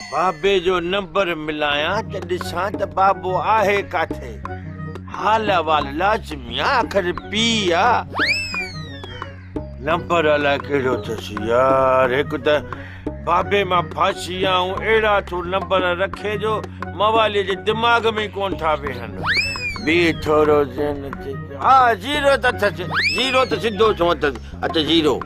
بابي جو نمبر ملايان ته ڏسان ته بابو آهي ڪاٿي. حال احوال لازمي آ آخر پيء آ. نمبر الائي ڪهڙو ٿيس يار هڪ ته بابي مان ڦاسي آ ۽ اهڙا ٿو نمبر رکي جو موالي جي دماغ ۾ ئي ڪونه ٿا ويهن. بيء ٿورو ذهن تي ڪيو. ها زيرو ته اٿس زيرو ته سڌو چون اٿس اٿ زيرو.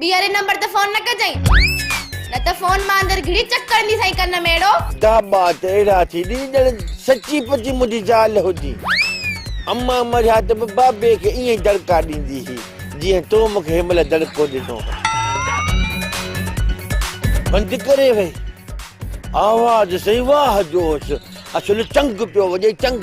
ٻيهر ان نمبر تي فون نه ڪجئين نه ته فون مان اندر گهڙي چڪ ڪرندي سائين ڪن ۾ اهڙو. داٻا ته اهڙا ٿي ڏي ڄڻ سچي پچي منهنجي زال هجي. امان مريا ته به بابي کي ائين ئي دڙڪا ڏيندي هئي جيئن تو مون کي هن مهل دڙڪو ڏنو هو. بند ڪري وئي. آواز سائين واهه جو هوس. اصل چنگ پيو وڄي چنگ.